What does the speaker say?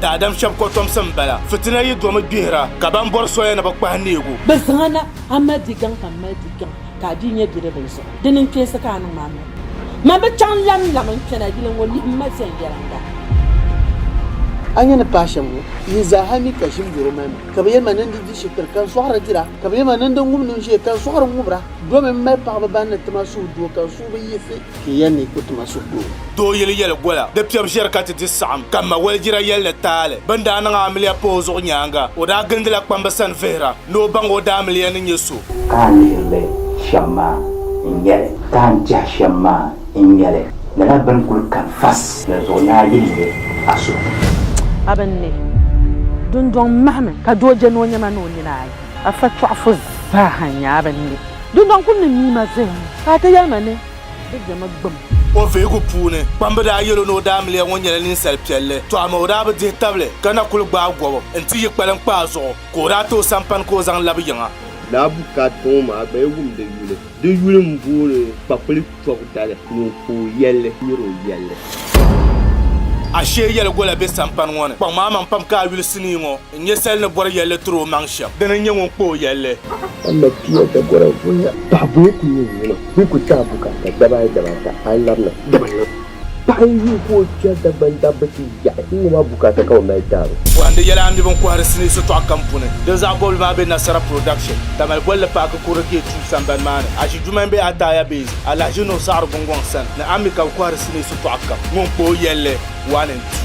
Daadam shɛb kɔtomsi m-bala. Fitina yi domi gbihira, ka ban bɔri soya ni bɛ kpahi neegu. Bɛ zaŋ a na, a mali di gaŋ ka m mali di gaŋ, ka a bia nyɛ bidibbil zuɣu. Di niŋ kpeesi ka a niŋ ma miri. Man bi chaŋ lamlam n-kpɛna yili ŋɔ, lihi m ma viɛnyɛliŋga. A nya ni paai shɛm ŋɔ yihi zaaha mi ka ʒim yɔro mali ma, ka bi yɛli ma ni n di di shikiri ka n sɔɣiri dira, ka bi yɛli ma ni n di ŋubinu ʒee ka n sɔɣiri ŋubira. Domi m mali paɣiba ban ni ti ma suhudoo ka n suhu bi yiɣisi. Ti yɛn ni ku ti ma so kpoo. Doo yili yɛli gola di piɛbu ʒiɛri ka ti di saɣim ka ma walijira yɛli ni taali bɛ ni daa niŋ amiliya pa o zuɣu nyaaŋa o daa gindila kpamba sani vihira ni o baŋ o daamiliya ni nyɛ so. Ka a ni ʒiri li shɛm maa n-nyɛ li, ka a ni tɛha shɛm maa n-nyɛ li, lala bɛ ni kul kani fas ni zuɣu ni a yihi li a suhu. A bɛ ni ne dundɔŋ mahimi ka doo je ni o nyama ni o nina ayi. A fɛtɔɣifu zaaha nyaa bɛ ni be dundɔŋ kul ni mii ma zaya ŋɔ, ka a ti yɛli ma ni bɛ je ma gbum. O vihigu puuni, kpamba daa yɛl o ni o daamiliya ŋɔ nyɛla ninsal piɛlli, tɔ amaa o daa bi dihi tabili ka na kul gbaai gɔbu n-ti yi kpaliŋ kpa a zuɣu, ka o daa ti o sampani ka o zaŋ labi yiŋa. Lala bukaat kɔŋɔ maa gba yi wumdi yuli. Di yuli m-booni Kpakpuli. tɔbu dali ŋun ku o yɛlli nyari o yɛlli. Ashee yɛligola be sampani ŋɔ ni. Kpaŋmaŋ maŋ pam ka a yuli sinii ŋɔ n-nyɛ sali ni bɔri yɛlli tiri o maŋ shɛm. Dini n-nyɛ ŋun kpa o yɛlli? A ma pia Dagora voya. Paɣa bɔyi ku nyɛ ŋuna. Bɛ ku ti a bukaata dabaayi dabaata, a yi labina, dabana. Paɣa n yuui ka o kpɛri Dagban dabba ti yaɣi n ŋɔba bukaata ka o mali daaro. Bɔhindi yɛla n di bini kɔhiri sinii sitɔɣu kam puuni. Din zaɣ bɔbili maa be Nasara Production, Tamale bolli paaki Kurili K-Tube sambani maa ni. Aʒi Jumai be Ataaya Base, Alahaji Nuhu Saɣiri Gungɔŋ sani ni Ammi ka bɛ kɔhiri sinii sitɔɣu kam. Ŋun kpa o yɛlli, one and two.